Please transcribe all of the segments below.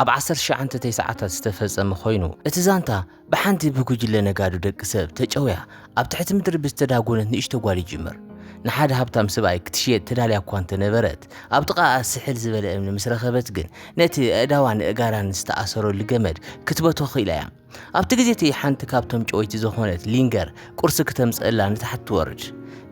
ኣብ ዓሰርተ ትሽዓተ ተስዓታት ዝተፈጸመ ኮይኑ፣ እቲ ዛንታ ብሓንቲ ብጉጅለ ነጋዶ ደቂ ሰብ ተጨውያ ኣብ ትሕቲ ምድሪ ብዝተዳጎነት ንእሽቶ ጓል ይጅምር። ንሓደ ሃብታም ሰብኣይ ክትሽየጥ ተዳልያ እኳ እንተ ነበረት፣ ኣብ ጥቓኣ ስሕል ዝበለ እምኒ ምስ ረኸበት ግን ነቲ ኣእዳዋን ኣእጋራን ዝተኣሰረሉ ገመድ ክትበትኾ ክኢላ እያ። ኣብቲ ግዜ እቲ ሓንቲ ካብቶም ጨወይቲ ዝኾነት ሊንገር ቁርሲ ክተምጽእላ ንታሕቲ ትወርድ።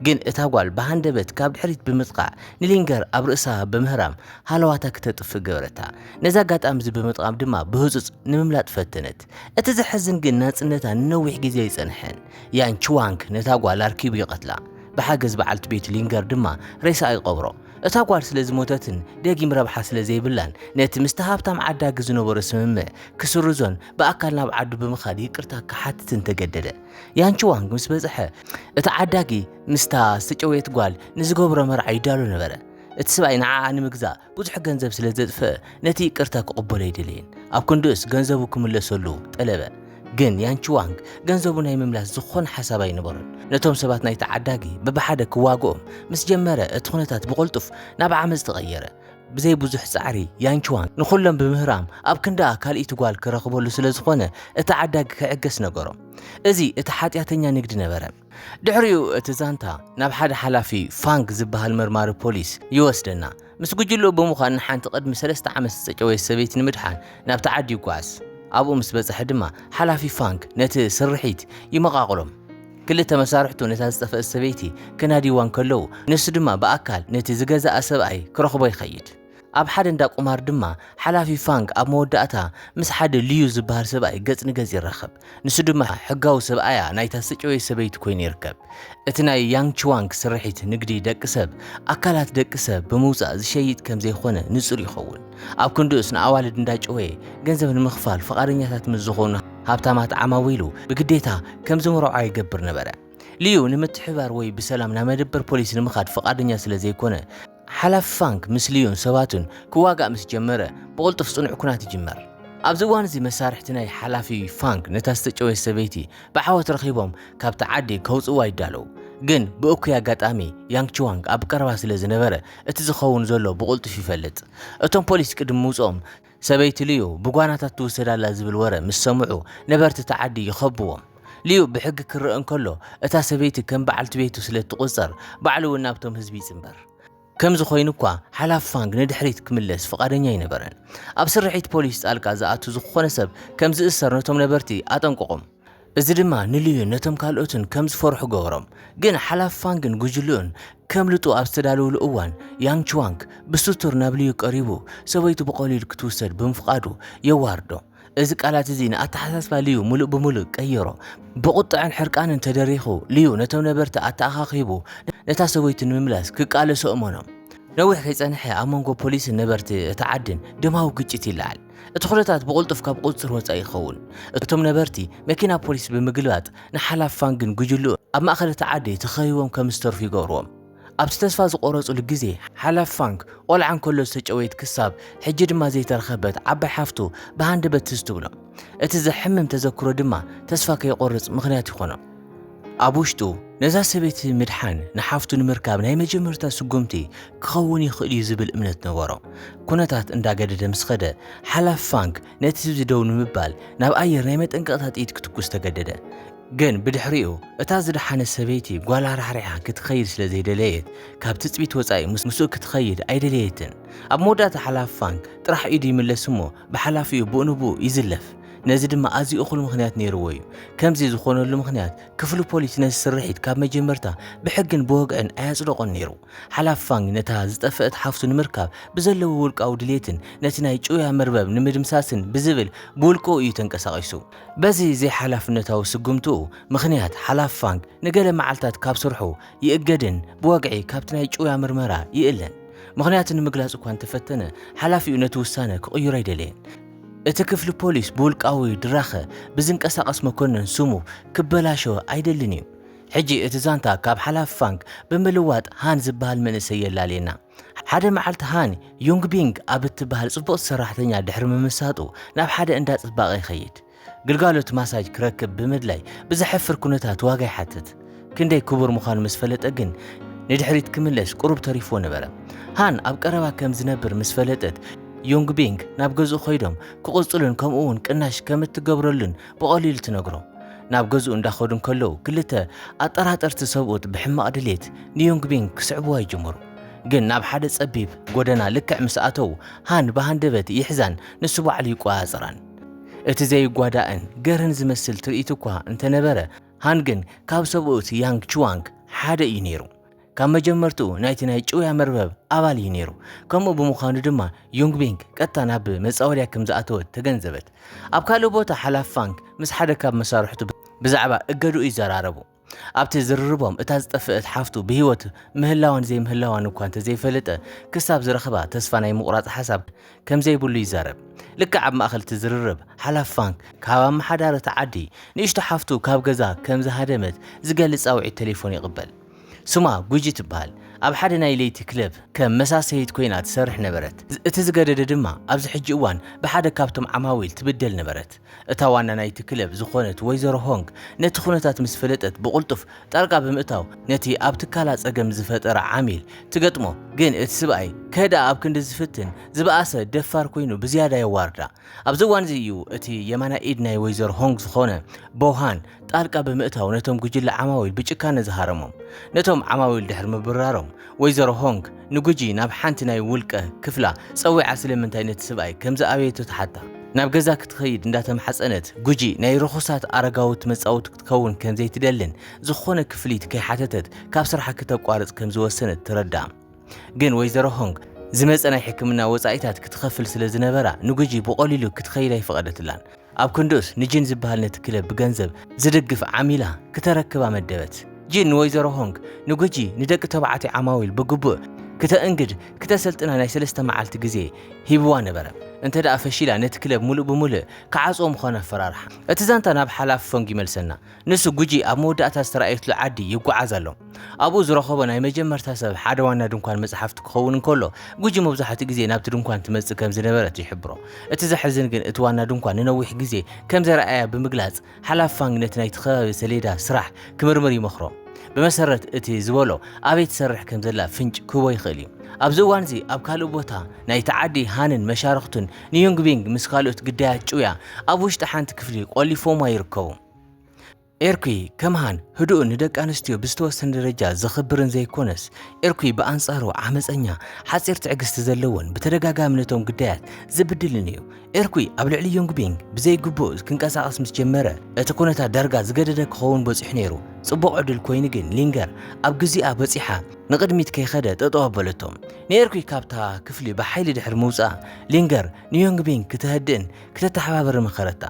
ግን እታ ጓል ብሃንደበት ካብ ድሕሪት ብምጥቓዕ ንሊንገር ኣብ ርእሳ ብምህራም ሃለዋታ ክተጥፍእ ገበረታ። ነዚ ኣጋጣሚ እዚ ብምጥቓም ድማ ብህጹጽ ንምምላጥ ፈተነት። እቲ ዘሕዝን ግን ናጽነታ ንነዊሕ ግዜ ኣይጸንሐን። ያን ቹዋንግ ነታ ጓል ኣርኪቡ ይቐትላ። ብሓገዝ በዓልቲ ቤቱ ሊንገር ድማ ሬሳኣ ይቐብሮ። እታ ጓል ስለ ዝሞተትን ደጊም ረብሓ ስለ ዘይብላን ነቲ ምስቲ ሃብታም ዓዳጊ ዝነበሮ ስምምዕ ክስርዞን ብኣካል ናብ ዓዱ ብምኻድ ይቅርታ ክሓትትን ተገደደ። ያንቺዋንግ ምስ በጽሐ እቲ ዓዳጊ ምስታ ዝተጨወየት ጓል ንዝገብሮ መርዓ ይዳሎ ነበረ። እቲ ሰብኣይ ንዓኣ ንምግዛእ ብዙሕ ገንዘብ ስለ ዘጥፍእ ነቲ ይቅርታ ክቕበሎ ኣይደለየን። ኣብ ክንድኡስ ገንዘቡ ክምለሰሉ ጠለበ። ግን ያን ቹዋንግ ገንዘቡ ናይ ምምላስ ዝኾነ ሓሳብ ኣይነበሮን። ነቶም ሰባት ናይቲ ዓዳጊ በብሓደ ክዋግኦም ምስ ጀመረ እቲ ኩነታት ብቕልጡፍ ናብ ዓመጽ ተቐየረ። ብዘይ ብዙሕ ጻዕሪ ያን ቹዋንግ ንኹሎም ብምህራም ኣብ ክንድኣ ካልኢቲ ጓል ክረኽበሉ ስለ ዝኾነ እቲ ዓዳጊ ክዕገስ ነገሮ። እዚ እቲ ሓጢኣተኛ ንግዲ ነበረ። ድሕሪኡ እቲ ዛንታ ናብ ሓደ ሓላፊ ፋንግ ዝበሃል መርማሪ ፖሊስ ይወስደና። ምስ ጉጅልኡ ብምዃን ንሓንቲ ቅድሚ ሰለስተ ዓመት ዝተጨወየት ሰበይቲ ንምድሓን ናብቲ ዓዲ ይጓዓዝ። ኣብኡ ምስ በጽሐ ድማ ሓላፊ ፋንግ ነቲ ስርሒት ይመቓቕሎም። ክልተ መሳርሕቱ ነታ ዝጠፍአት ሰበይቲ ከናድይዋ እንከለዉ፣ ንሱ ድማ ብኣካል ነቲ ዝገዝኣ ሰብኣይ ክረኽቦ ይኸይድ። ኣብ ሓደ እንዳ ቁማር ድማ ሓላፊ ፋንግ ኣብ መወዳእታ ምስ ሓደ ልዩ ዝበሃል ሰብኣይ ገጽ ንገጽ ይራኸብ። ንሱ ድማ ሕጋዊ ሰብኣያ ናይታ ዝተጨወየት ሰበይቲ ኰይኑ ይርከብ። እቲ ናይ ያንግ ቺዋንግ ስርሒት ንግዲ ደቂ ሰብ፣ ኣካላት ደቂ ሰብ ብምውጻእ ዝሸይጥ ከም ዘይኰነ ንጹር ይኸውን። ኣብ ክንድኡስ ንኣዋልድ እንዳጨወየ ገንዘብ ንምኽፋል ፍቓደኛታት ምስ ዝዀኑ ሃብታማት ዓማዊሉ ብግዴታ ከም ዝምርዖኣ ይገብር ነበረ። ልዩ ንምትሕብባር ወይ ብሰላም ናብ መደበር ፖሊስ ንምኻድ ፍቓደኛ ስለ ዘይኰነ፣ ሓላፊ ፋንክ ምስ ልዩን ሰባቱን ክዋጋእ ምስ ጀመረ፣ ብቕልጡፍ ጽኑዕ ኵናት ይጅመር። ኣብዚ እዋን'ዚ መሳርሕቲ ናይ ሓላፊ ፋንክ ነታ ዝተጨወየት ሰበይቲ ብዓወት ረኺቦም ካብታ ዓዲ ከውጽእዋ ይዳለዉ። ግን ብእኩይ ኣጋጣሚ ያንግ ቹዋንግ ኣብ ቀረባ ስለ ዝነበረ እቲ ዝኸውን ዘሎ ብቕልጡፍ ይፈልጥ። እቶም ፖሊስ ቅድሚ ምውጽኦም ሰበይቲ ልዩ ብጓናታት ትውሰድ ኣላ ዝብል ወረ ምስ ሰምዑ ነበርቲ እታ ዓዲ ይኸብዎም። ልዩ ብሕጊ ክረኣ እንከሎ እታ ሰበይቲ ከም በዓልቲ ቤቱ ስለ እትቑጸር ባዕሉ እውን ናብቶም ህዝቢ ይጽንበር። ከምዚ ኮይኑ እኳ ሓላፊ ፋንግ ንድሕሪት ክምለስ ፍቓደኛ ኣይነበረን። ኣብ ስርሒት ፖሊስ ጣልቃ ዝኣቱ ዝኹኾነ ሰብ ከም ዝእሰር ነቶም ነበርቲ ኣጠንቀቖም። እዚ ድማ ንልዩን ነቶም ካልኦትን ከም ዝፈርሑ ገበሮም። ግን ሓላፊ ፋንግን ጉጅልኡን ከምልጡ ኣብ ዝተዳለውሉ እዋን፣ ያንግ ቹዋንግ ብስቱር ናብ ልዩ ቀሪቡ ሰበይቱ ብቐሊሉ ክትውሰድ ብምፍቓዱ የዋርዶ። እዚ ቃላት እዚ ንኣተሓሳስባ ልዩ ምሉእ ብምሉእ ቀየሮ። ብቑጥዐን ሕርቃንን ተደሪኹ፣ ልዩ ነቶም ነበርቲ ኣተኣኻኺቡ ነታ ሰበይቱ ንምምላስ ክቃለሱ ኣእመኖም። ነዊሕ ከይጸንሐ ኣብ መንጎ ፖሊስን ነበርቲ እታ ዓድን ደማዊ ግጭት ይለዓል። እቲ ኩነታት ብቕልጡፍ ካብ ቁፅፅር ወፃኢ ይኸውን። እቶም ነበርቲ መኪና ፖሊስ ብምግልባጥ ንሓላፍ ፋንግን ጉጅልኡን ኣብ ማእኸል እቲ ዓዲ ተኸቢቦም ከም ዝተርፉ ይገብርዎም። ኣብቲ ተስፋ ዝቖረፅሉ ግዜ ሓላፍ ፋንግ ቆልዓ እንከሎ ዝተጨወየት ክሳብ ሕጂ ድማ ዘይተረኸበት ዓባይ ሓፍቱ ብሃንደበት ትዝ ትብሎም። እቲ ዘሕምም ተዘክሮ ድማ ተስፋ ከይቖርፅ ምኽንያት ይኾኖ። ኣብ ውሽጡ ነዛ ሰበይቲ ምድሓን ንሓፍቱ ንምርካብ ናይ መጀመርታ ስጉምቲ ክኸውን ይኽእል እዩ ዝብል እምነት ነበሮ። ኩነታት እንዳገደደ ምስ ኸደ ሓላፊ ፋንግ ነቲ ህዝቢ ደው ንምባል ናብ ኣየር ናይ መጠንቀቕታ ጥይት ክትኩስ ተገደደ። ግን ብድሕሪኡ እታ ዝደሓነት ሰበይቲ ጓላ ራሕሪሓ ክትኸይድ ስለ ዘይደለየት ካብ ትጽቢት ወጻኢ ምስኡ ክትኸይድ ኣይደለየትን። ኣብ መወዳእታ ሓላፊ ፋንግ ጥራሕ ኢዱ ይምለስ እሞ ብሓላፊኡ ብኡ ንብኡ ይዝለፍ። ነዚ ድማ ኣዝዩ እኹል ምኽንያት ነይርዎ እዩ። ከምዚ ዝኾነሉ ምኽንያት፣ ክፍሊ ፖሊስ ነዚ ስርሒት ካብ መጀመርታ ብሕግን ብወግዕን ኣየጽደቖን ነይሩ። ሓላፊ ፋንግ ነታ ዝጠፈእት ሓፍቱ ንምርካብ ብዘለዎ ውልቃዊ ድሌትን ነቲ ናይ ጭውያ መርበብ ንምድምሳስን ብዝብል ብውልቅኡ እዩ ተንቀሳቒሱ። በዚ ዘይሓላፍነታዊ ስጉምትኡ ምኽንያት፣ ሓላፊ ፋንግ ንገለ መዓልታት ካብ ስርሑ ይእገድን ብወግዒ ካብቲ ናይ ጭውያ ምርመራ ይእለን። ምኽንያቱ ንምግላጽ እኳ እንተፈተነ፣ ሓላፊኡ ነቲ ውሳነ ክቕይሮ ኣይደለየን። እቲ ክፍሊ ፖሊስ ብውልቃዊ ድራኸ ብዝንቀሳቐስ መኮነን ስሙ ክበላሾ ኣይደልን እዩ። ሕጂ እቲ ዛንታ ካብ ሓላፊ ፋንግ ብምልዋጥ ሃን ዝበሃል መንእሰይ የላልየና። ሓደ መዓልቲ ሃን፣ ዩንግቢንግ ኣብ እትበሃል ጽቡቕቲ ሰራሕተኛ ድሕሪ ምምሳጡ ናብ ሓደ እንዳ ጽባቐ ይኸይድ። ግልጋሎት ማሳጅ ክረክብ ብምድላይ ብዘሕፍር ኩነታት ዋጋ ይሓትት። ክንደይ ክቡር ምዃኑ ምስ ፈለጠ ግን ንድሕሪት ክምለስ ቁሩብ ተሪፍዎ ነበረ። ሃን ኣብ ቀረባ ከም ዝነብር ምስ ፈለጠት ዮንግ ቢንግ ናብ ገዝኡ ከይዶም ክቕጽሉን ከምኡ'ውን ቅናሽ ከም እትገብረሉን ብቐሊሉ ትነግሮ። ናብ ገዝኡ እንዳኸዱ እንከለዉ ክልተ ኣጠራጠርቲ ሰብኡት ብሕማቕ ድሌት ንዮንግ ቢንግ ክስዕብዋ ይጅምሩ። ግን ናብ ሓደ ጸቢብ ጎደና ልክዕ ምስ ኣተዉ ሃን ብሃንደበት ይሕዛን ንሱ ባዕሉ ይቆጻጸራን። እቲ ዘይጓዳእን ገርን ዝመስል ትርኢት እኳ እንተ ነበረ፣ ሃን ግን ካብ ሰብኡት ያንግ ቹዋንግ ሓደ እዩ ነይሩ። ካብ መጀመርታኡ ናይቲ ናይ ጭውያ መርበብ ኣባል እዩ ነይሩ፣ ከምኡ ብምዃኑ ድማ ዩንግቢንግ ቀጥታ ናብ መጻወድያ ከም ዝኣተወት ተገንዘበት። ኣብ ካልእ ቦታ ሓላፊ ፋንግ ምስ ሓደ ካብ መሳርሕቱ ብዛዕባ እገድኡ ይዘራረቡ። ኣብቲ ዝርርቦም እታ ዝጠፍእት ሓፍቱ ብህይወት ምህላዋን ዘይምህላዋን እኳ እንተዘይፈለጠ ክሳብ ዝረኽባ ተስፋ ናይ ምቑራጽ ሓሳብ ከምዘይብሉ ይዛረብ። ልክዕ ኣብ ማእከል እቲ ዝርርብ ሓላፍ ፋንክ ካብ ኣመሓዳሪ እቲ ዓዲ ንእሽቶ ሓፍቱ ካብ ገዛ ከም ዝሃደመት ዝገልጽ ጻውዒት ተሌፎን ይቕበል። ስማ ጉጂ ትበሃል። ኣብ ሓደ ናይ ለይቲ ክለብ ከም መሳሰይት ኮይና ትሰርሕ ነበረት። እቲ ዝገደደ ድማ ኣብዚ ሕጂ እዋን ብሓደ ካብቶም ዓማዊል ትብደል ነበረት። እታ ዋና ናይቲ ክለብ ዝዀነት ወይዘሮ ሆንግ ነቲ ኵነታት ምስ ፈለጠት ብቕልጡፍ ጣልቃ ብምእታው ነቲ ኣብ ትካላ ጸገም ዝፈጠረ ዓሚል ትገጥሞ። ግን እቲ ስብኣይ ከህድኣ ኣብ ክንዲ ዝፍትን ዝበኣሰ ደፋር ኰይኑ ብዝያዳ የዋርዳ። ኣብዚ እዋን'ዚ እዩ እቲ የማናይ ኢድ ናይ ወይዘሮ ሆንግ ዝዀነ ቦውሃን ጣልቃ ብምእታው ነቶም ጉጅለ ዓማዊል ብጭካነ ዝሃረሞም ነቶም ዓማዊል ድሕሪ ምብራሮም ወይዘሮ ሆንግ ንጉጂ ናብ ሓንቲ ናይ ውልቀ ክፍላ ጸዊዓ ስለምንታይ ነቲ ስብኣይ ከምዝኣበየቶ ትሓታ ናብ ገዛ ክትኸይድ እንዳተማሕጸነት ጉጂ ናይ ርኹሳት ኣረጋውት መጻውቲ ክትከውን ከምዘይትደልን ዝኾነ ክፍሊት ከይሓተተት ካብ ስርሓ ክተቋርጽ ከምዝወሰነት ትረዳእ። ግን ወይዘሮ ሆንግ ዝመጸ ናይ ሕክምና ወጻኢታት ክትኸፍል ስለ ዝነበራ ንጉጂ ብቐሊሉ ክትኸይድ ኣይፈቐደትላን። ኣብ ክንድኡስ ንጂን ዝበሃል ነቲ ክለብ ብገንዘብ ዝድግፍ ዓሚላ ክተረክባ መደበት። ጂን ንወይዘሮ ሆንግ ንጉጂ ንደቂ ተባዕትዮ ዓማዊል ብግቡእ ክተእንግድ ክተሰልጥና ናይ ሰለስተ መዓልቲ ግዜ ሂብዋ ነበረ። እንተድኣ ፈሺላ ነቲ ክለብ ምሉእ ብምሉእ ክዓጽዎ ምዃኑ ኣፈራርሓ። እቲ ዛንታ ናብ ሓላፊ ፎንግ ይመልሰና። ንሱ ጉጂ ኣብ መወዳእታ ዝተራእየትሉ ዓዲ ይጓዓዝ ኣሎ። ኣብኡ ዝረኸቦ ናይ መጀመርታ ሰብ ሓደ ዋና ድንኳን መጽሓፍቲ ክኸውን እንከሎ፣ ጉጂ መብዛሕትኡ ግዜ ናብቲ ድንኳን ትመጽእ ከም ዝነበረት ይሕብሮ። እቲ ዘሕዝን ግን እቲ ዋና ድንኳን ንነዊሕ ግዜ ከም ዘርኣያ ብምግላጽ፣ ሓላፊ ፋንግ ነቲ ናይቲ ከባቢ ሰሌዳ ስራሕ ክምርምር ይመኽሮ። ብመሰረት እቲ ዝበሎ ኣበይ ትሰርሕ ከም ዘላ ፍንጭ ክህቦ ይኽእል እዩ። ኣብዚ እዋን እዚ ኣብ ካልእ ቦታ ናይቲ ዓዲ ሃንን መሻርኽቱን ንዩንግቢንግ ምስ ካልኦት ግዳያት ጭውያ ኣብ ውሽጢ ሓንቲ ክፍሊ ቆሊፎምዋ ይርከቡ። ኤርኩ ከመሃን ህዱእን ንደቂ ኣንስትዮ ብዝተወሰነ ደረጃ ዘኽብርን ዘይኮነስ ኤርኩ ብኣንጻሩ ዓመፀኛ ሓፂር ትዕግስቲ ዘለዎን ብተደጋጋሚ ነቶም ግዳያት ዝብድልን እዩ። ኤርኩ ኣብ ልዕሊ ዮንግቢንግ ብዘይግቡእ ክንቀሳቐስ ምስ ጀመረ እቲ ኩነታት ዳርጋ ዝገደደ ክኸውን በፂሑ ነይሩ። ጽቡቕ ዕድል ኮይኑ ግን ሊንገር ኣብ ግዚኣ በጺሓ ንቕድሚት ከይኸደ ጠጠው ኣበለቶ። ንኤርኩ ካብታ ክፍሊ ብሓይሊ ድሕሪ ምውጻኣ ሊንገር ንዮንግ ቢንግ ክተህድእን ክተተሓባበርን መኸረታ።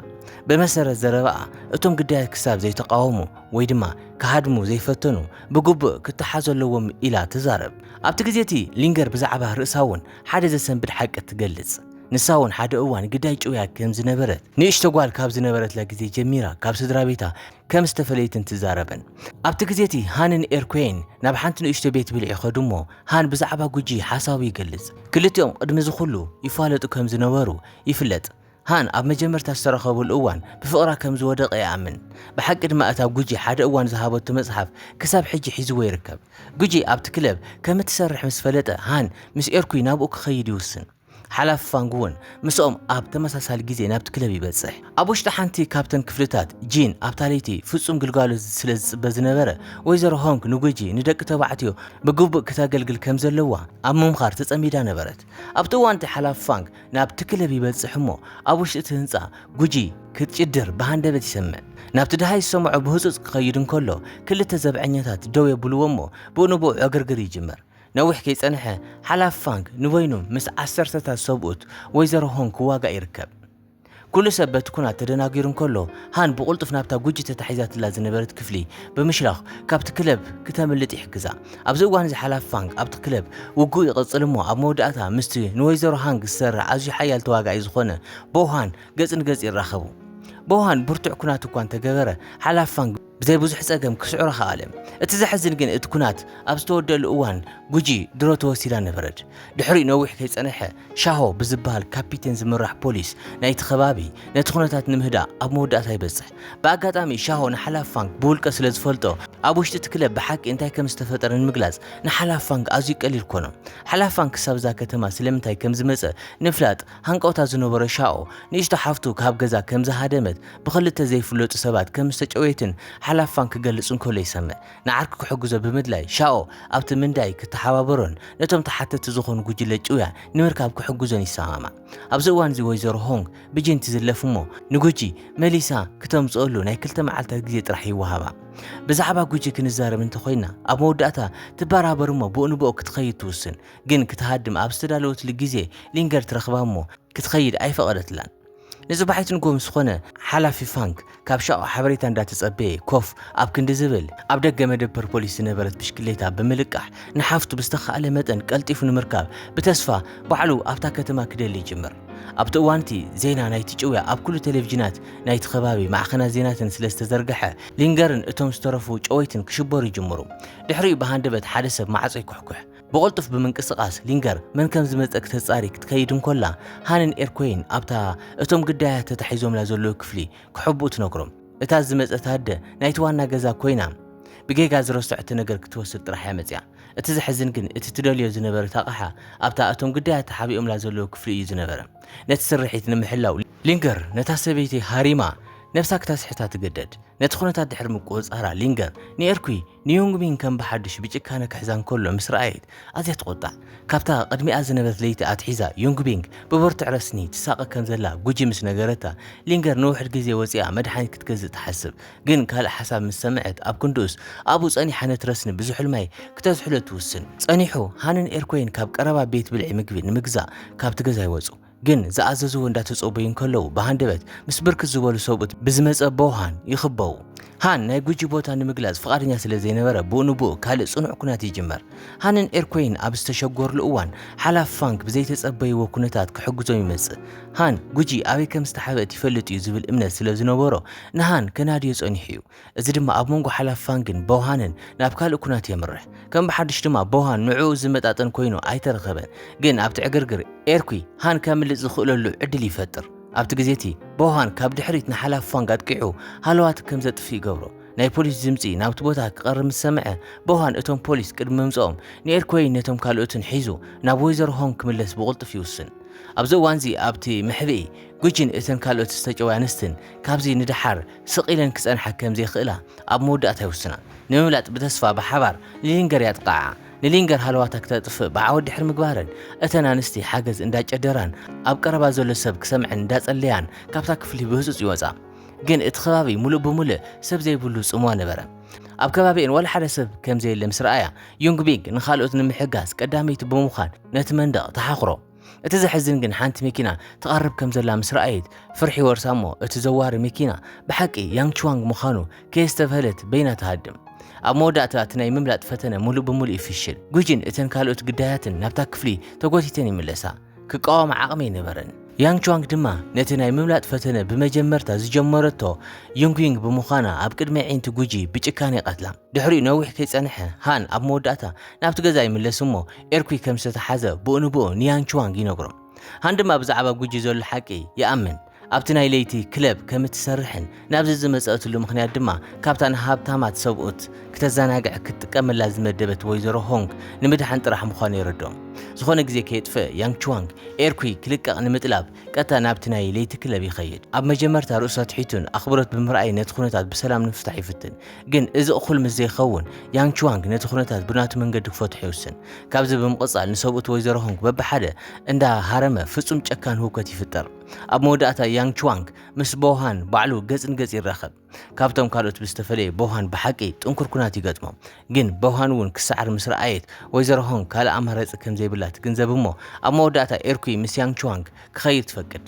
ብመሰረት ዘረባኣ፣ እቶም ግዳያት ክሳብ ዘይተቓወሙ ወይ ድማ ክሃድሙ ዘይፈተኑ ብግቡእ ክተሓዙ ኣለዎም ኢላ ትዛረብ። ኣብቲ ግዜ እቲ ሊንገር ብዛዕባ ርእሳ እውን ሓደ ዘሰንብድ ሓቂ ትገልጽ። ንሳ እውን ሓደ እዋን ግዳይ ጭውያ ከም ዝነበረት፣ ንእሽቶ ጓል ካብ ዝነበረትላ ግዜ ጀሚራ ካብ ስድራቤታ ከም ዝተፈለየትን ትዛረብን። ኣብቲ ግዜ እቲ ሃንን ኤርኩየን ናብ ሓንቲ ንእሽቶ ቤት ብልዒ ኸዱ እሞ ሃን ብዛዕባ ጉጂ ሓሳቡ ይገልጽ። ክልቲኦም ቕድሚ እዚ ኹሉ ይፋለጡ ከም ዝነበሩ ይፍለጥ። ሃን ኣብ መጀመርታ ዝተራኸብሉ እዋን ብፍቕራ ከም ዝወደቐ ይኣምን። ብሓቂ ድማ እታ ጉጂ ሓደ እዋን ዝሃበቶ መጽሓፍ ክሳብ ሕጂ ሒዝዎ ይርከብ። ጉጂ ኣብቲ ክለብ ከም እትሰርሕ ምስ ፈለጠ ሃን ምስ ኤርኩይ ናብኡ ክኸይድ ይውስን። ሓላፊ ፋንግ እውን ምስኦም ኣብ ተመሳሳሊ ግዜ ናብቲ ክለብ ይበጽሕ። ኣብ ውሽጢ ሓንቲ ካብተን ክፍልታት፣ ጂን ኣብታ ለይቲ ፍጹም ግልጋሎት ስለ ዝጽበ ዝነበረ፣ ወይዘሮ ሆንግ ንጉጂ ንደቂ ተባዕትዮ ብግቡእ ክተገልግል ከም ዘለዋ ኣብ ምምኻር ተጸሚዳ ነበረት። ኣብቲ እዋን እቲ ሓላፊ ፋንግ ናብቲ ክለብ ይበጽሕ እሞ ኣብ ውሽጢ እቲ ህንጻ ጉጂ ክትጭድር ብሃንደበት ይሰምዕ። ናብቲ ደሃይ ዝሰምዖ ብህጹጽ ክኸይድ እንከሎ ክልተ ዘብዐኛታት ደው የብልዎ እሞ ብኡ ንብኡ ዕግርግር ይጅምር። ነዊሕ ከይጸንሐ፣ ሓላፊ ፋንግ ንበይኑ ምስ ዓሰርተታት ሰብኡት ወይዘሮ ሆንግ ክዋጋእ ይርከብ። ኵሉ ሰብ በቲ ኵናት ተደናጊሩ እንከሎ፣ ሃን ብቕልጡፍ ናብታ ጕጂ ተታሒዛትላ ዝነበረት ክፍሊ ብምሽላኽ ካብቲ ክለብ ክተምልጥ ይሕግዛ። ኣብዚ እዋን እዚ ሓላፊ ፋንግ ኣብቲ ክለብ ውግኡ ይቕጽል እሞ ኣብ መወዳእታ ምስቲ ንወይዘሮ ሃንግ ዝሰርዕ ኣዝዩ ሓያል ተዋጋኢ ዝዀነ ቦው ሃን ገጽ ንገጽ ይራኸቡ። ቦው ሃን ብርቱዕ ኵናት እኳ እንተገበረ፣ ሓላፊ ፋንግ ብዘይ ብዙሕ ጸገም ክስዕሮ ከኣለ። እቲ ዘሕዝን ግን እቲ ኩናት ኣብ ዝተወደኣሉ እዋን ጉጂ ድሮ ተወሲዳ ነበረት። ድሕሪኡ ነዊሕ ከይጸነሐ ሻሆ ብዝበሃል ካፒቴን ዝምራሕ ፖሊስ ናይቲ ከባቢ ነቲ ኩነታት ንምህዳእ ኣብ መወዳእታ ይበጽሕ። ብኣጋጣሚ ሻሆ ንሓላፊ ፋንግ ብውልቀ ስለ ዝፈልጦ ኣብ ውሽጢ እቲ ክለብ ብሓቂ እንታይ ከም ዝተፈጠረ ንምግላጽ ንሓላፊ ፋንግ ኣዝዩ ቀሊል ኮኖ። ሓላፊ ፋንግ ክሳብ እዛ ከተማ ስለምንታይ ከም ዝመጸ ንምፍላጥ ሃንቀውታ ዝነበሮ ሻኦ፣ ንእሽቶ ሓፍቱ ካብ ገዛ ከም ዝሃደመት፣ ብኽልተ ዘይፍለጡ ሰባት ከም ዝተጨውየትን ሓላፋን ክገልጽ እንከሎ ይሰምዕ። ንዓርኩ ክሕግዞ ብምድላይ፣ ሻኦ ኣብቲ ምንዳይ ክተሓባበሮን ነቶም ተሓተትቲ ዝኾኑ ጉጅለ ጭውያ ንምርካብ ክሕግዞን ይሰማማዕ። ኣብዚ እዋን'ዚ ወይዘሮ ሆንግ ብጂን ትዝለፍ እሞ ንጉጂ መሊሳ ክተምጽኦሉ ናይ ክልተ መዓልታት ግዜ ጥራሕ ይወሃባ። ብዛዕባ ጉጂ ክንዛረብ እንተኾይንና፣ ኣብ መወዳእታ ትበራበር እሞ ብኡንብኦ ክትኸይድ ትውስን። ግን ክትሃድም ኣብ ዝተዳለወትሉ ግዜ ሊንገር ትረኽባ እሞ ክትኸይድ ኣይፈቐደትላን። ንጽባሒቱ ንግሆ ምስ ኾነ ሓላፊ ፋንክ ካብ ሻኦ ሓበሬታ እንዳተጸበየ ኮፍ ኣብ ክንዲ ዝብል ኣብ ደገ መደበር ፖሊስ ዝነበረት ብሽክሌታ ብምልቃሕ ንሓፍቱ ብዝተኻእለ መጠን ቀልጢፉ ንምርካብ ብተስፋ ባዕሉ ኣብታ ከተማ ክደሊ ይጅምር። ኣብቲ እዋን'ቲ ዜና ናይቲ ጭውያ ኣብ ኩሉ ቴሌቪዥናት ናይቲ ከባቢ ማዕኸናት ዜናትን ስለ ዝተዘርገሐ ሊንገርን እቶም ዝተረፉ ጨወይትን ክሽበሩ ይጅምሩ። ድሕሪኡ ብሃንደበት ሓደ ሰብ ማዕጾ ይኩሕኩሕ። ብቕልጡፍ ብምንቅስቓስ ሊንገር መን ከም ዝመጸ ክተጻሪ ክትከይድ እንኮላ ሃንን ኤርኮይን ኣብታ እቶም ግዳያት ተታሒዞምላ ዘለዉ ክፍሊ ክሕብኡ ትነግሮም። እታ ዝመጸት ኣደ ናይቲ ዋና ገዛ ኮይና ብጌጋ ዝረሰዐቶ ነገር ክትወስድ ጥራሕ እያ መጺኣ። እቲ ዘሕዝን ግን እቲ ትደልዮ ዝነበረት ኣቕሓ ኣብታ እቶም ግዳያት ተሓቢኦምላ ዘለዉ ክፍሊ እዩ ዝነበረ። ነቲ ስርሒት ንምሕላው ሊንገር ነታ ሰበይቲ ሃሪማ ነብሳ ክተስሕታ ትግደድ። ነቲ ኩነታት ድሕሪ ምቁጽጻራ ሊንገር ንኤርኩይ፣ ንዮንግሚን ከም ብሓድሽ ብጭካነ ክሕዛ እንከሎ ምስ ረኣየት ኣዝያ ተቖጣዕ። ካብታ ቅድሚኣ ዝነበረት ለይቲ ኣትሒዛ ዮንግቢንግ ብብርቱዕ ረስኒ ትሳቐ ከም ዘላ ጉጂ ምስ ነገረታ፣ ሊንገር ንውሑድ ግዜ ወጺኣ መድሓኒት ክትገዝእ ትሓስብ። ግን ካልእ ሓሳብ ምስ ሰምዐት ኣብ ክንድኡስ ኣብኡ ጸኒሓ ነቲ ረስኒ ብዝሑል ማይ ክተዝሕሎ ትውስን። ጸኒሑ ሃንን ኤርኮይን ካብ ቀረባ ቤት ብልዒ ምግቢ ንምግዛእ ካብቲ ገዛ ይወጹ። ግን ዝኣዘዝዎ እንዳተጸበዩ እንከለዉ ብሃንደበት ምስ ብርክት ዝበሉ ሰብኡት ብዝመጸበው ሃን ይኽበቡ። ሃን ናይ ጉጂ ቦታ ንምግላጽ ፍቓደኛ ስለ ዘይነበረ ብኡ ንብኡ ካልእ ጽኑዕ ኩናት ይጅመር። ሃንን ኤርኮይን ኣብ ዝተሸጎርሉ እዋን ሓላፊ ፋንግ ብዘይተጸበይዎ ኩነታት ክሕግዞም ይመጽእ። ሃን ጉጂ ኣበይ ከም ዝተሓብእት ይፈልጥ እዩ ዝብል እምነት ስለ ዝነበሮ ንሃን ከናድዮ ጸኒሑ እዩ። እዚ ድማ ኣብ መንጎ ሓላፊ ፋንግን ቦውሃንን ናብ ካልእ ኩናት የምርሕ። ከም ብሓድሽ ድማ ቦውሃን ንዕኡ ዝመጣጠን ኮይኑ ኣይተረኸበን፣ ግን ኣብቲ ዕግርግር ኤርኲ ሃን ከምልጥ ዝኽእለሉ ዕድል ይፈጥር። ኣብቲ ግዜ እቲ፣ ቦውሃን ካብ ድሕሪት ንሓላፊ ፋንግ ኣጥቂዑ ሃለዋቱ ከም ዘጥፍእ ይገብሮ። ናይ ፖሊስ ድምጺ ናብቲ ቦታ ክቐርብ ምስ ሰምዐ፣ ቦውሃን እቶም ፖሊስ ቅድሚ ምምጽኦም ንኤርኲይን ነቶም ካልኦትን ሒዙ ናብ ወይዘሮ ሆንግ ክምለስ ብቕልጡፍ ይውስን። ኣብዚ እዋንዚ ኣብቲ መሕብኢ፣ ጒጂን እተን ካልኦት ዝተጨውያ ኣንስትን ካብዚ ንደሓር ስቕ ኢለን ክጸንሓ ከም ዘይክእላ ኣብ መወዳእታ ይውስና። ንምምላጥ ብተስፋ ብሓባር ንሊንገር ያጥቕዓኣ። ንሊንገር ሃለዋታ ክተጥፍእ ብዓወት ድሕሪ ምግባረን፣ እተን ኣንስቲ ሓገዝ እንዳጨደራን ኣብ ቀረባ ዘሎ ሰብ ክሰምዐን እንዳጸለያን ካብታ ክፍሊ ብህጹጽ ይወጻ። ግን እቲ ከባቢ ምሉእ ብምሉእ ሰብ ዘይብሉ ጽምዋ ነበረ። ኣብ ከባቢኤን ዋላ ሓደ ሰብ ከም ዘየለ ምስ ረኣያ፣ ዩንግቢንግ ንኻልኦት ንምሕጋዝ ቀዳመይቲ ብምዃን ነቲ መንደቕ ተሓኹሮ። እቲ ዘሕዝን ግን ሓንቲ መኪና ትቐርብ ከም ዘላ ምስ ረኣየት ፍርሒ ወርሳ እሞ እቲ ዘዋሪ መኪና ብሓቂ ያንግ ቹዋንግ ምዃኑ ከየስተብሀለት በይና ትሃድም። ኣብ መወዳእታ እቲ ናይ ምምላጥ ፈተነ ሙሉእ ብሙሉእ ይፍሽል። ጉጂን እተን ካልኦት ግዳያትን ናብታ ክፍሊ ተጎቲተን ይምለሳ። ክቃወማ ዓቕሚ ኣይነበረን። ያንግ ቹዋንግ ድማ ነቲ ናይ ምምላጥ ፈተነ ብመጀመርታ ዝጀመረቶ ዩንግዩንግ ብምዃና ኣብ ቅድሚ ኣዒንቲ ጉጂ ብጭካነ ይቐትላ። ድሕሪኡ ነዊሕ ከይጸንሐ፣ ሃን ኣብ መወዳእታ ናብቲ ገዛ ይምለስ እሞ ኤርኩይ ከም ዝተታሓዘ ብኡ ንብኡ ንያንቹዋንግ ይነግሮ። ሃን ድማ ብዛዕባ ጉጂ ዘሎ ሓቂ ይኣምን። ኣብቲ ናይ ለይቲ ክለብ ከም እትሰርሕን ናብዚ ዝመጸእትሉ ምኽንያት ድማ ካብታ ንሃብታማት ሰብኡት ክተዘናግዕ ክትጥቀመላ ዝመደበት ወይዘሮ ሆንግ ንምድሓን ጥራሕ ምዃኑ የረድኦም። ዝኾነ ግዜ ከየጥፍእ ያንግ ቹዋንግ ኤርኩይ ክልቀቕ ንምጥላብ ቀጥታ ናብቲ ናይ ለይቲ ክለብ ይኸይድ። ኣብ መጀመርታ ርእሱ ኣትሒቱን ኣኽብሮት ብምርኣይን ነቲ ኵነታት ብሰላም ንምፍታሕ ይፍትን። ግን እዚ እኹል ምስ ዘይከውን፣ ያንግ ቹዋንግ ነቲ ኵነታት ብናቱ መንገዲ ክፈትሖ ይውስን። ካብዚ ብምቕጻል ንሰብኡት ወይዘሮ ሆንግ በብሓደ እንዳ ሃረመ ፍጹም ጨካን ህውከት ይፍጠር። ኣብ መወዳእታ ያንግ ቹዋንግ ምስ ቦው ሃን ባዕሉ ገጽ ንገጽ ይራኸብ። ካብቶም ካልኦት ብዝተፈለየ ቦሃን ብሓቂ ጥንኩር ኩናት ይገጥሞ። ግን ቦሃን እውን ክሰዓር ምስ ረኣየት ወይዘሮ ሆንግ ካልእ ኣማራጺ ከም ዘይብላ ትግንዘብ እሞ ኣብ መወዳእታ ኤርኩይ ምስ ያንግ ቹዋንግ ክኸይድ ትፈቅድ።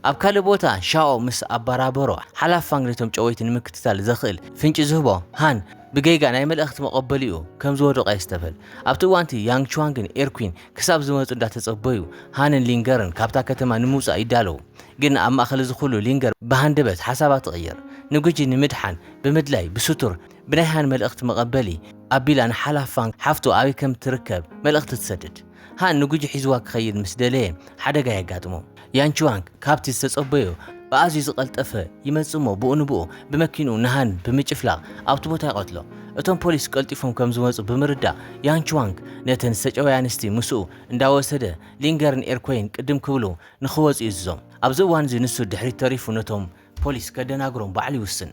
ኣብ ካልእ ቦታ ሻኦ ምስ ኣባራበሮ ሓላፍ ፋንግ ነቶም ጨወይቲ ንምክትታል ዘኽእል ፍንጪ ዝህቦ ሃን ብጌጋ ናይ መልእኽቲ መቐበሊኡ ከም ዝወደቐ የስተብህል። ኣብቲ እዋን'ቲ ያንግ ቹዋንግን ኤርኩይን ክሳብ ዝመጹ እንዳተጸበዩ ሃንን ሊንገርን ካብታ ከተማ ንምውጻእ ይዳለዉ። ግን ኣብ ማእከል እዚ ኩሉ ሊንገር ብሃንደበት ሓሳባ ትቕይር። ንጉጂ ንምድሓን ብምድላይ ብስቱር ብናይ ሃን መልእኽቲ መቐበሊ ኣቢላ ንሓላፍ ፋንግ ሓፍቱ ኣበይ ከም እትርከብ መልእኽቲ ትሰድድ። ሃን ንጉጂ ሒዝዋ ክኸይድ ምስ ደለየ ሓደጋ የጋጥሞ። ያንቹዋንግ ካብቲ ዝተጸበዮ ብኣዝዩ ዝቐልጠፈ ይመጽእ'ሞ ብኡ ንብኡ ብመኪንኡ ንሃን ብምጭፍላቕ ኣብቲ ቦታ ይቐትሎ። እቶም ፖሊስ ቀልጢፎም ከም ዝመጹ ብምርዳእ ያንቹዋንግ ነተን ዝተጨወያ ኣንስቲ ምስኡ እንዳወሰደ ሊንገርን ኤርኮይን ቅድም ክብሉ ንኽወጹ ይእዝዞም። ኣብዚ እዋን'ዚ ንሱ ድሕሪት ተሪፉ ነቶም ፖሊስ ከደናግሮም ባዕሉ ይውስን።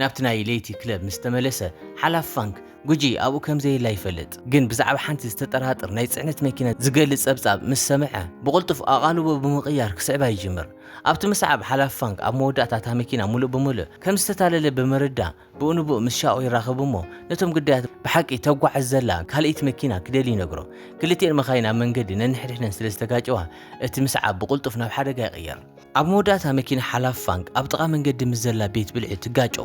ናብቲ ናይ ለይቲ ክለብ ምስ ተመለሰ፣ ሓላፊ ፋንክ፣ ጉጂ ኣብኡ ከም ዘየላ ይፈልጥ። ግን ብዛዕባ ሓንቲ ዝተጠራጥር ናይ ጽዕነት መኪና ዝገልጽ ጸብጻብ ምስ ሰምዐ፣ ብቕልጡፍ ኣቓልቦ ብምቕያር ክስዕባ ይጅምር። ኣብቲ ምስዓብ፣ ሓላፊ ፋንክ ኣብ መወዳእታ እታ መኪና ምሉእ ብምሉእ ከም ዝተታለለ ብምርዳእ፣ ብኡ ንብኡ ምስ ሻኦ ይራኸብ እሞ ነቶም ግዳያት ብሓቂ ተጓዕዝ ዘላ ካልእይቲ መኪና ክደሊ ይነግሮ። ክልቲኤን መካይን ኣብ መንገዲ ነንሕድሕደን ስለ ዝተጋጨዋ፣ እቲ ምስዓብ ብቕልጡፍ ናብ ሓደጋ ይቕየር። ኣብ መወዳእታ መኪና ሓላፊ ፋንግ ኣብ ጥቓ መንገዲ ምስ ዘላ ቤት ብልዒ ትጋጮ።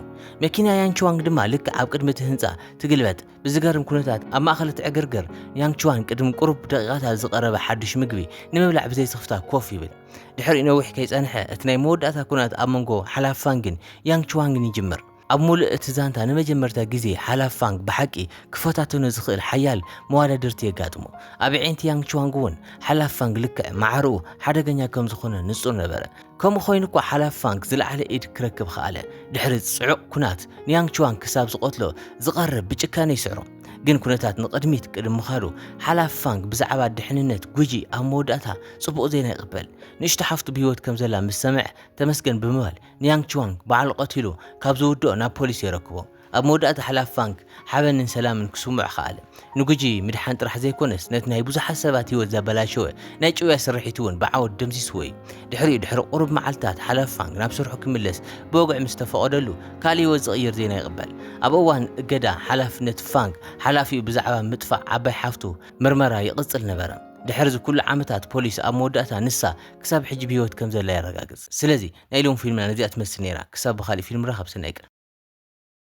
መኪና ያንግቹዋንግ ድማ ልክዕ ኣብ ቅድሚ እቲ ህንጻ ትግልበጥ። ብዝገርም ኩነታት ኣብ ማእከል እቲ ዕግርግር፣ ያንግቹዋን ቅድሚ ቁሩብ ደቒቓታት ዝቐረበ ሓድሽ ምግቢ ንምብላዕ ብዘይ ስኽፍታ ኮፍ ይብል። ድሕሪኡ ነዊሕ ከይጸንሐ እቲ ናይ መወዳእታ ኩናት ኣብ መንጎ ሓላፊ ፋንግን ያንግቹዋንግን ይጅምር። ኣብ ምሉእ እቲ ዛንታ ንመጀመርታ ግዜ ሓላፍ ፋንግ ብሓቂ ክፈታተኖ ዝኽእል ሓያል መዋዳድርቲ የጋጥሞ። ኣብ ኣዒንቲ ያንግ ቹዋንግ'ውን ሓላፍ ፋንግ ልክዕ ማዕረኡ ሓደገኛ ከም ዝኾነ ንጹር ነበረ። ከምኡ ኮይኑ'ኳ ሓላፍ ፋንግ ዝለዓለ ኢድ ክረክብ ኸኣለ። ድሕሪ ጽዑቕ ኩናት ንያንግ ቹዋንግ ክሳብ ዝቐትሎ ዝቐርብ ብጭካነ ይስዕሮ። ግን ኩነታት ንቕድሚት ቅድሚ ምኻዱ ሓላፍ ፋንግ ብዛዕባ ድሕንነት ጉጂ ኣብ መወዳእታ ጽቡቕ ዜና ይቕበል። ንእሽቶ ሓፍቱ ብህይወት ከም ዘላ ምስ ሰምዐ ተመስገን ብምባል ንያንግ ቹዋንግ ባዕሉ ቀቲሉ ካብ ዝውድኦ ናብ ፖሊስ የረክቦ። ኣብ መወዳእታ ሓላፊ ፋንግ ሓበንን ሰላምን ክስምዖ ከኣለ። ንጉጂ ምድሓን ጥራሕ ዘይኮነስ ነቲ ናይ ብዙሓት ሰባት ህይወት ዘበላሸወ ናይ ጭውያ ስርሒት'ውን ብዓወት ደምሲስዎ እዩ። ድሕሪኡ ድሕሪ ቁሩብ መዓልትታት ሓላፊ ፋንግ ናብ ስርሑ ክምለስ ብወግዒ ምስ ተፈቐደሉ ካልእ ህይወት ዝቕይር ዜና ይቕበል። ኣብ እዋን እገዳ ሓላፍነት ፋንግ ሓላፊኡ ብዛዕባ ምጥፋእ ዓባይ ሓፍቱ ምርመራ ይቕጽል ነበረ። ድሕር'ዚ ኩሉ ዓመታት ፖሊስ ኣብ መወዳእታ ንሳ ክሳብ ሕጂ ብሂወት ከም ዘላ የረጋግጽ ስለዚ ናይ ሎሚ ፊልምና ነዚኣ ትመስል ኔራ ክሳብ ብካሊእ ፊልም ንራከብ ሰናይ ቀን።